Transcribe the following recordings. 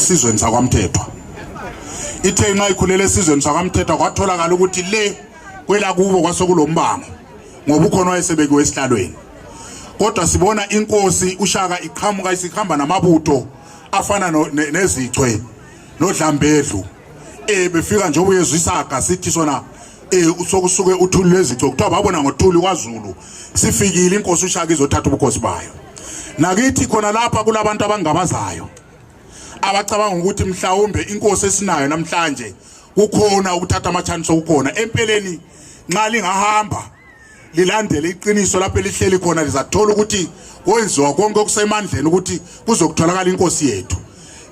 esizweni sakwaMthethwa ithe inxa ikhulele esizweni sakwaMthethwa kwatholakala ukuthi le kwelakubo kwasokulombango ngoba ukhona wayesebekiwe esihlalweni kodwa sibona inkosi ushaka iqhamuka isikhamba namabutho afana nezichwe nodlambedlu eh befika njengoba uyezwa isaga sithi sona eh sokusuke uthuli lwezichwe kuthiwa babona ngothuli kwaZulu sifikile inkosi ushaka izothatha ubukhosi bayo nakithi khona lapha kulabantu abangabazayo abacabanga ukuthi mhlawumbe inkosi esinayo namhlanje kukhona ukuthatha amachance okukhona empeleni nxa lingahamba lilandele iqiniso lapho elihleli khona lizathola ukuthi kwenziwa konke okusemandleni ukuthi kuzokutholakala inkosi yethu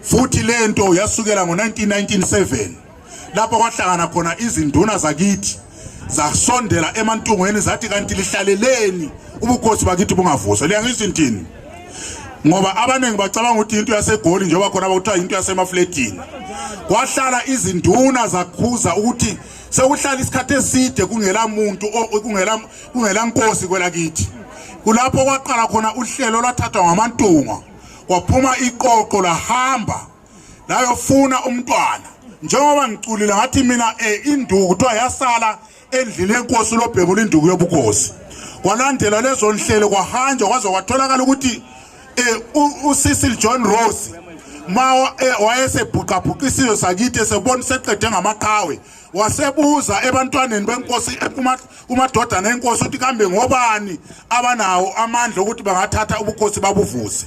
futhi lento yasukela ngo-1997 lapho kwahlangana khona izinduna zakithi zasondela emantungweni zathi kanti lihlaleleni ubukhosi bakithi bungavuswa liyangizwa intini ngoba abaningi bacabanga ukuthi into yasegoli njengoba khona bakuthiwa into yasemafletini kwahlala izinduna zakhuza ukuthi sekuhlala isikhathi eside kungela muntu kungela kungela nkosi kwelakithi kulapho kwaqala khona uhlelo lwathathwa ngamantunga kwaphuma iqoqo lahamba nayofuna umntwana njengoba ngiculile ngathi mina e induku kuthiwa yasala endlini yenkosi lobhebula induku yobukosi kwalandela lezo nhlelo kwahanjwa kwaze kwatholakala ukuthi um usisil john rose ma eh, wayesebhuqabhuqa isizwe sakithi esebona seqede ngamaqhawe wasebuza ebantwaneni benkosi eh, kumadodana enkosi ukuthi kambe ngobani abanawo amandla okuthi bangathatha ubukhosi babuvuse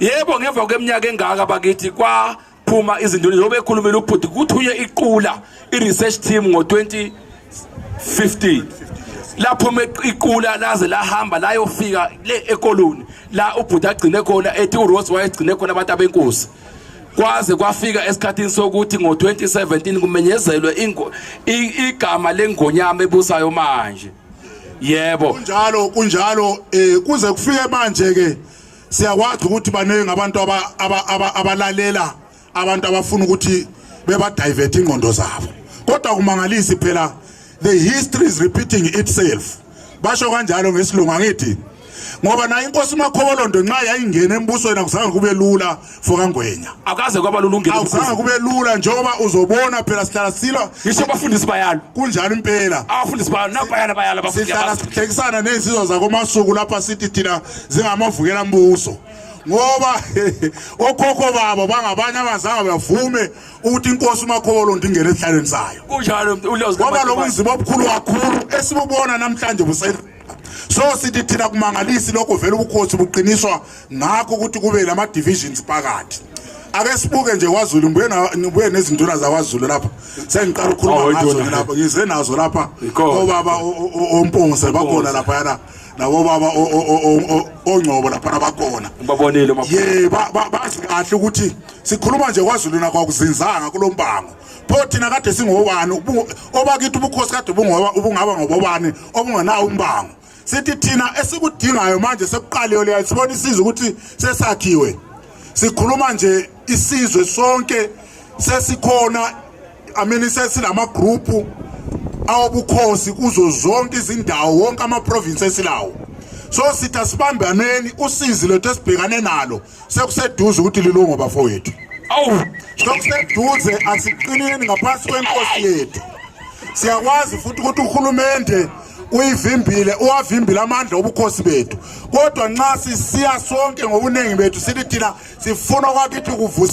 yebo ngemva kweminyaka engaka bakithi kwa phuma izinduna njengoba ekhulumile ubhuti kuthunywe iqula i-research team ngo-2015 laphuma iqula laze lahamba layofika le ekoloni la ubhuti agcine khona ethi urose wayegcine khona abantu abenkosi kwaze kwafika esikhathini sokuthi ngo-2017 kumenyezelwe igama lengonyama ebusayo manje yebo kunjalo kunjalo eh kuze kufike manje ke siyakwazi ukuthi baningi abantu abalalela abantu abafuna ukuthi bebadivert ingqondo zabo kodwa kumangalisi phela the history is repeating itself basho kanjalo ngesilungu angithi ngoba naye inkosi umakhobolondo nxa yayingena embusweni akuzange kube lula fokangwenya akaze kwaba lulungile akuzange kube lula njengoba uzobona phela sihlala silwa ngisho abafundisi bayalo kunjalo impela abafundisi bayalo nabayala bayala abafundisi sihlala sihlekisana nezinsizwa zakomasuku lapha sithi thina zingamavukela mbuso ngoba okhokho babo bangabanye abazange bavume ukuthi inkosi umakholo ndingene esihlalweni sayo kunjalo ngoba lobunzima obukhulu kakhulu esibubona namhlanje busela so sithi thina kumangalisi lokho vele ubukhosi buqiniswa ngakho ukuthi kube lama divisions phakathi ake sibuke nje kwaZulu ngibuye ngibuye nezinduna zakwaZulu lapha sengiqala ukukhuluma oh, ngazo lapha ngize nazo lapha obaba ompungse bakhona lapha yana nabo baba ongcobo lapha abakhona babonile ye bazi kahle ukuthi sikhuluma nje kwaZulu nakho akuzinzanga kulombango pho thina kade singobani obakithi ubukhosi kade ubungaba ngobobani obungenawo umbango sithi thina esikudingayo manje sekuqaliwe leyo sibona isizwe ukuthi sesakhiwe sikhuluma nje isizwe sonke sesikhona i mean sesilama group awobukhosi kuzo zonke izindawo wonke ama province esilawo so sitha sibambaneni usizi lethu esibhekane nalo sekuseduze ukuthi lilungu bafowethu awu sekuseduze asiqineni ngaphansi kwenkosi yethu siyakwazi futhi ukuthi uhulumende uyivimbile uwavimbile amandla obukhosi bethu kodwa nxa sisiya sonke ngobuningi bethu sithi thina sifuna kwakithi kuvuse